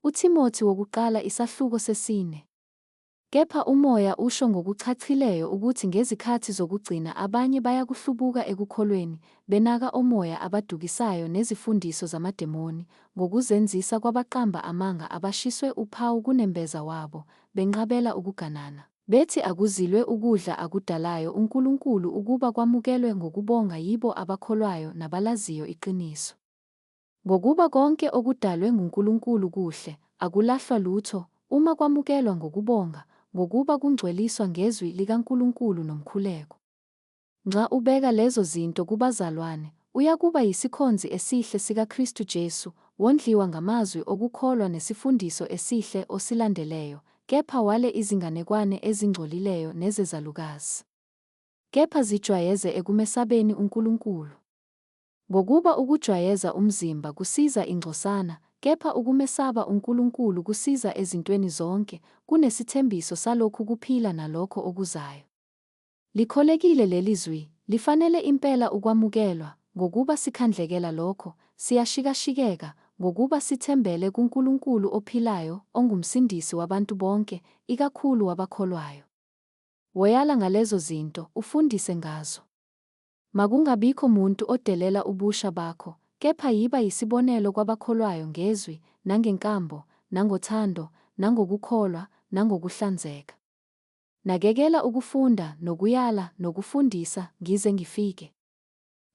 UThimothi wokuqala isahluko sesine. Kepha uMoya usho ngokuchachileyo ukuthi ngezikhathi zokugcina abanye bayakuhlubuka ekukholweni, benaka omoya abadukisayo nezifundiso zamademoni, ngokuzenzisa kwabaqamba amanga abashiswe uphawu kunembeza wabo, benqabela ukuganana. Bethi akuzilwe ukudla akudalayo uNkulunkulu ukuba kwamukelwe ngokubonga yibo abakholwayo nabalaziyo iqiniso. Ngokuba konke okudalwe nguNkulunkulu kuhle, akulahlwa lutho, uma kwamukelwa ngokubonga, ngokuba kungcweliswa ngezwi likaNkulunkulu nomkhuleko. Nxa ubeka lezo zinto kubazalwane, uyakuba yisikhonzi esihle sikaKristu Jesu, wondliwa ngamazwi okukholwa nesifundiso esihle osilandeleyo, kepha wale izinganekwane ezingcolileyo nezezalukazi. Kepha zijwayeze ekumesabeni uNkulunkulu. Ngokuba ukujwayeza umzimba kusiza ingcosana, kepha ukumesaba uNkulunkulu kusiza ezintweni zonke, kunesithembiso salokhu kuphila nalokho okuzayo. Likholekile leli zwi, lifanele impela ukwamukelwa, ngokuba sikhandlekela lokho, siyashikashikeka, ngokuba sithembele kuNkulunkulu ophilayo onguMsindisi wabantu bonke, ikakhulu wabakholwayo. Woyala ngalezo zinto, ufundise ngazo. Makungabikho muntu odelela ubusha bakho, kepha yiba yisibonelo kwabakholwayo ngezwi, nangenkambo, nangothando, nangokukholwa, nangokuhlanzeka. Nakekela ukufunda nokuyala nokufundisa ngize ngifike.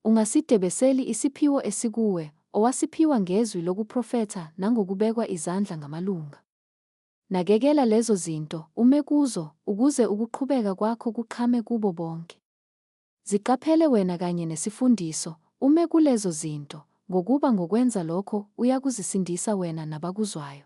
Ungasidebeseli isiphiwo esikuwe, owasiphiwa ngezwi lokuprofetha nangokubekwa izandla ngamalunga. Nakekela lezo zinto, ume kuzo, ukuze ukuqhubeka kwakho kuqhame kubo bonke. Ziqaphele wena kanye nesifundiso, ume kulezo zinto, ngokuba ngokwenza lokho uyakuzisindisa wena nabakuzwayo.